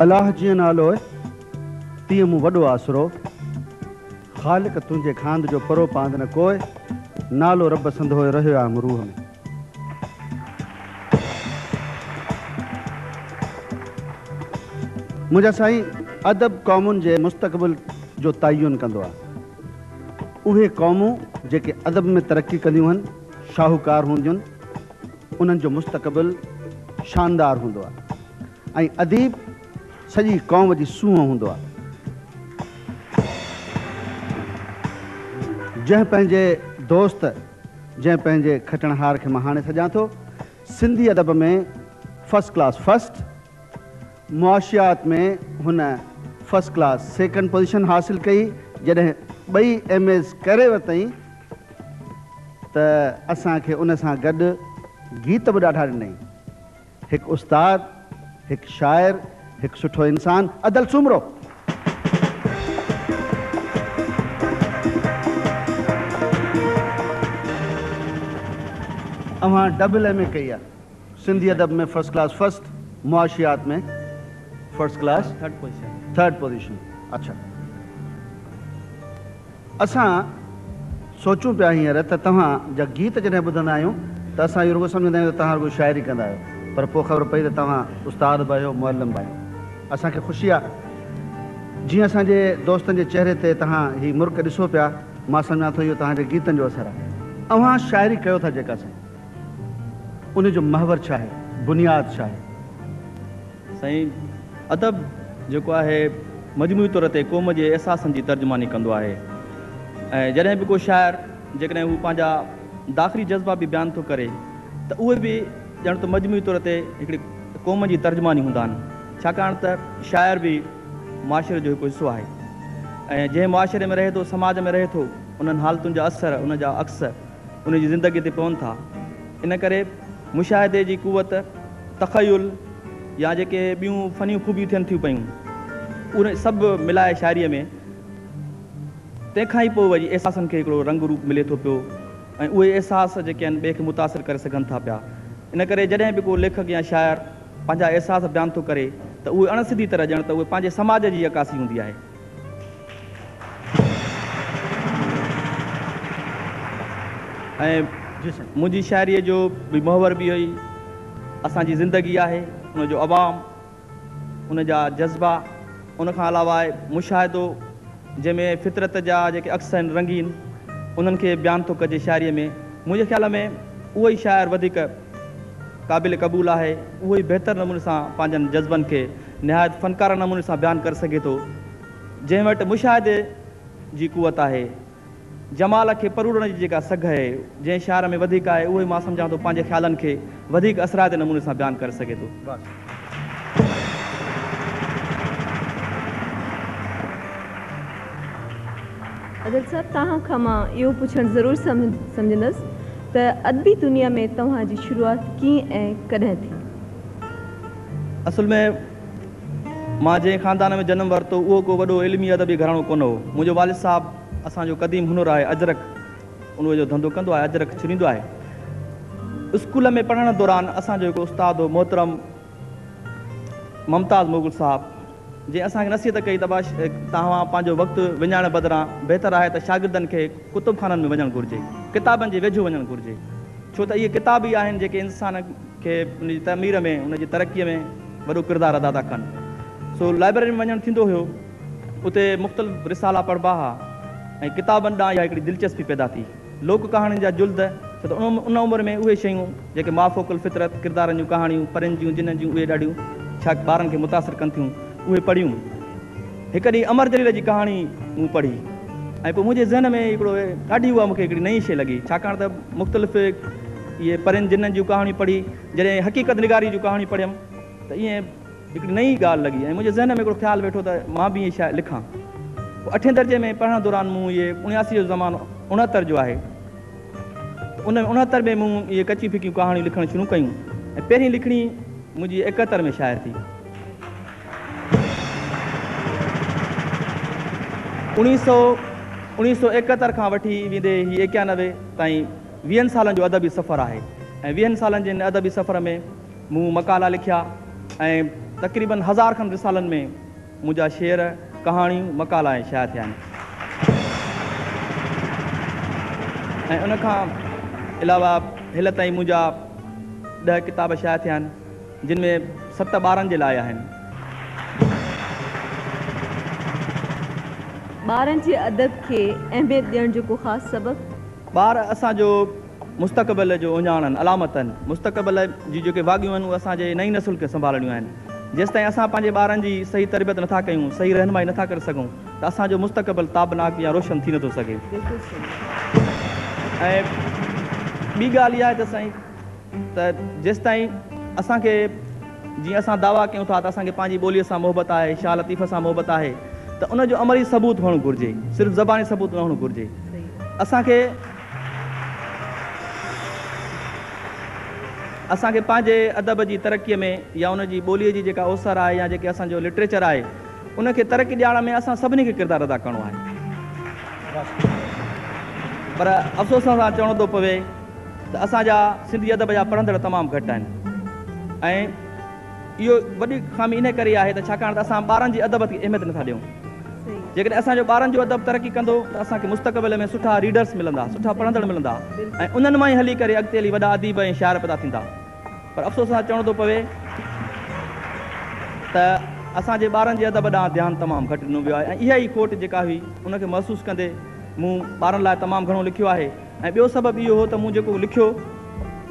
الاھ جيئن نالوء تيئن مون وڏو آسرو. خالق تنهنجي خاند جو پرو پاند نه ڪوء. نالو رب سندهوء رهيو آهي مون روح ۾. منهنجا سائين ادب قومن جي مستقبل جو تعين ڪندو آهي. اهي قومون جيڪي ادب ۾ ترقي ڪنديون هن. شاهوڪار هونديون انهن جو مستقبل شاندار هوندو آهي ۽ اديب سڄي قوم جي سونهن هوندو آهي جنهن پنهنجي دوست جنهن پنهنجي کٽڻهار کي مان هاڻي سڏيان ٿو سنڌي ادب ۾ فرسٽ ڪلاس فرسٽ معاشيات ۾ هن فرسٽ ڪلاس سيڪنڊ پوزيشن حاصل ڪئي، جڏهن ٻئي ايم ايز ڪري ورتائين ته اسان کي ان سان گڏ گيت به ڏاڍا ڏنائين. هڪ استاد، هڪ شاعر، هڪ سٺو انسان ادل سومرو. اوهان ڊبل ايم اي ڪئي آهي. سنڌي ادب ۾ فرسٽ ڪلاس فرسٽ، معاشيات ۾ فرسٽ ڪلاس ٿرڊ پوزيشن. اڇا اسان سوچون پيا هينئر ته توهان جا گيت جڏهن ٻڌندا آهيون ته اسان اهو رڳو سمجهندا آهيون ته توهان رڳو شاعري ڪندا آهيو پر پوء خبر پئي ته توهان استاد به آهيو معلم به آهيو اسان کي خوشي آهي جيئن اسان جي دوستن جي چهري تي توهان هي مرڪ ڏسو پيا مان سمجهان ٿو اهو توهان جي گيتن جو اثر آهي اوهان شاعري ڪيو ٿا جيڪا سائين ان جو محور ڇا آهي؟ بنياد ڇا آهي؟ سائين ادب جيڪو آهي مجموعي طور تي قوم جي احساسن جي ترجماني ڪندو آهي ۽ جڏهن به ڪو شاعر جيڪڏهن هو پنهنجا داخلي جذبا به بيان ٿو ڪري ته اهي به ڄڻ ته مجموعي طور تي هڪڙي قوم جي ترجماني هوندا آهن ڇاڪاڻ ته شاعر به معاشري جو هڪ حصو آهي ۽ جنهن معاشري ۾ رهي ٿو سماج ۾ رهي ٿو انهن حالتن جا اثر ان جا عڪس ان جي زندگيء تي پون ٿا. ان ڪري مشاهدي جي قوت، تخيل يا جيڪي ٻيون فنيون خوبيون ٿين ٿيون پيون، اهي سڀ ملائي شاعريء ۾، تنهن کان ئي پوء وري احساسن کي هڪڙو رنگ روپ ملي ٿو پيو ۽ اهي احساس جيڪي آهن ٻئي کي متاثر ڪري سگهن ٿا پيا. ان ڪري جڏهن به ڪو ليکڪ يا شاعر پنهنجا احساس بيان ٿو ڪري ته اهي اڻ سڌي طرح ڄڻ ته اهي پنهنجي سماج جي عڪاسي هوندي آهي. ۽ منهنجي شاعريء جو محور به اهو ئي اسان جي زندگي آهي، ان جو عوام، ان جا جذبا، ان کان علاوه آهي مشاهدو، جنهن ۾ فطرت جا جيڪي عڪس آهن رنگين، انهن کي بيان ٿو ڪجي شاعريء ۾. منهنجي خيال ۾ اهو ئي شاعر وڌيڪ قابل قبول آهي، اهو ئي بهتر نموني سان پنهنجن جذبن کي نهايت فنڪارانه نموني سان بيان ڪري سگهي ٿو، جنهن وٽ مشاهدي جي قوت آهي. جمال کي پروڙڻ جي جيڪا سگهه اهي جنهن شاعر ۾ وڌيڪ آهي، اهو ئي مان سمجهان ٿو پنهنجي خيالن کي وڌيڪ اثرائتي نموني سان بيان ڪري سگهي ٿو. ادل صاحب توهان کان مان اهو پڇڻ ضرور سمجهندس ته ادبي دنيا ۾ توهان جي شروعات ڪيئن ۽ ڪڏهن ٿي؟ اصل ۾ مان جنهن خاندان ۾ جنم ورتو، اهو ڪو وڏو علمي ادبي گهراڻو ڪونه هو. منهنجو والد صاحب اسان جو قديم هنر آهي اجرڪ، ان جو ڌنڌو ڪندو آهي، اجرڪ ڇريندو آهي. اسڪول ۾ پڙهڻ دوران اسان جو هڪ استاد هو محترم ممتاز مغل صاحب، جنهن اسان کي نصيحت ڪئي ته توهان پنهنجو وقت وڃائڻ بدران بهتر آهي ته شاگردن کي ڪتبخانن ۾ وڃڻ گهرجي، ڪتابن جي ويجهو وڃڻ گهرجي، ڇو ته اهي ڪتاب ئي آهن جيڪي انسان کي ان جي تعمير ۾ ان جي ترقيء ۾ وڏو ڪردار ادا ٿا ڪن. سو لائبرري ۾ وڃڻ ٿيندو هيو. اتي مختلف رسالا پڙهبا ها ۽ ڪتابن ڏانهن اها هڪڙي دلچسپي پيدا ٿي. لوڪ ڪهاڻين جا جلد، ڇو ته ان عمر ۾ اهي شيون، جيڪي مافوق الفطرت ڪردارن جون ڪهاڻيون، پرين جون، جنن جون اهي ڏاڍيون ڇا ٻارن کي متاثر ڪن ٿيون، اهي پڙهيون. هڪ ڏينهن امر جليل جي ڪهاڻي مون پڙهي ۽ پوء منهنجي ذهن ۾ هڪڙو ڏاڍي اها مون کي هڪڙي نئين شيء لڳي، ڇاڪاڻ ته مختلف اهي پرين جنن جون ڪهاڻيون پڙهي، جڏهن حقيقت نگاريء جون ڪهاڻيون پڙهيم ته ائين، هڪڙي نئين ڳالهه لڳي ۽ منهنجي ذهن ۾ هڪڙو خيال ويٺو ته مان به اهي شاعري لکان. پوء اٺين درجي ۾ پڙهڻ دوران مون اهي اڻياسي جو زمانو اڻهتر جو آهي ته ان ۾ اڻهتر ۾ مون اهي ڪچيون ڦڪيون ڪهاڻيون لکڻ شروع ڪيون ۽ پهرين لکڻي منهنجي ايڪهتر ۾ شايع ٿي. اوڻيهه سؤ اوڻيهه سؤ ايڪهتر کان وٺي ويندي هي ايڪيانوي تائين ويهن سالن جو ادبي سفر آهي ۽ ويهن سالن جي ان ادبي سفر ۾ مون مقالا لکيا ۽ تقريبن هزار کن رسالن ۾ منهنجا شعر، ڪهاڻيون، مقالا ۽ شايع ٿيا آهن ۽ ان کان علاوه هل تائين منهنجا ڏهه ڪتاب شايع ٿيا آهن، جن ۾ ست ٻارن جي لاء آهن. ٻارن جي ادب کي اهميت ڏيڻ جو ڪو خاص سبب؟ ٻار اسان جو مستقبل جو اهڃاڻن، علامتن، مستقبل جي جيڪي واڳيون آهن اهي اسان جي نئين نسل کي سنڀالڻيون آهن. جيستائين اسان پنهنجي ٻارن جي صحيح تربيت نٿا ڪيون، صحيح رهنمائي نٿا ڪري سگهون ته اسان جو مستقبل تابناڪ يا روشن ٿي نٿو سگهي. ۽ ٻي ڳالهه اها آهي ته سائين ته جيستائين اسان کي جيئن اسان دعويٰ ڪيون ٿا ته اسان کي پنهنجي ٻوليء سان محبت آهي، شاهه لطيف سان محبت آهي ته ان جو عملي ثبوت هئڻ گهرجي، صرف زباني ثبوت نه هئڻ گهرجي. اسان کي. اسان کي پنهنجي ادب جي ترقيء ۾ يا ان جي ٻوليء جي جيڪا اوسر آهي يا جيڪي اسان جو لٽريچر آهي ان کي ترقي ڏيارڻ ۾ اسان سڀني کي ڪردار ادا ڪرڻو آهي پر افسوس سان چوڻو ٿو پوي ته اسان جا سنڌي ادب جا پڙهندڙ تمام گهٽ آهن ۽ اهو وڏي خامي انهيء ڪري آهي ته ڇاڪاڻ ته اسان ٻارن جي ادب کي اهميت نٿا ڏيون. جيڪڏهن اسان جو ٻارن جو ادب ترقي ڪندو ته اسان کي مستقبل ۾ سٺا ريڊرس ملندا، سٺا پڙهندڙ ملندا ۽ انهن مان ئي هلي ڪري اڳتي هلي وڏا اديب ۽ شاعر پيدا ٿيندا. پر افسوس سان چوڻو ٿو پوي ته اسان جي ٻارن جي ادب ڏانهن ڌيان تمام گهٽ ڏنو ويو آهي ۽ اها ئي کوٽ جيڪا هئي ان کي محسوس ڪندي مون ٻارن لاء تمام گهڻو لکيو آهي. ۽ ٻيو سبب اهو هو ته مون جيڪو لکيو،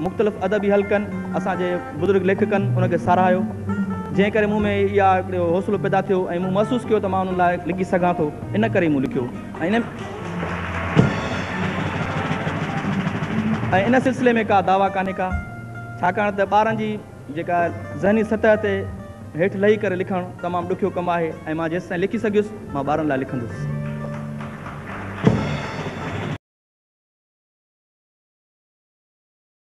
مختلف ادبي حلقن، اسان جي بزرگ ليکڪن ان کي ساراهيو، جنهن ڪري مون ۾ اها هڪڙو حوصلو پيدا ٿيو ۽ مون محسوس ڪيو ته مان انهن لاء لکي سگهان ٿو، ان ڪري ئي مون لکيو ۽ ان سلسلي ۾ ڪا دعويٰ ڪانهي ڪا، ڇاڪاڻ ته ٻارن جي. جيڪا ذهني سطح تي هيٺ لهي ڪري لکڻ تمام ڏکيو ڪم آهي ۽ مان جيستائين لکي سگهيس مان ٻارن لاء لکندس.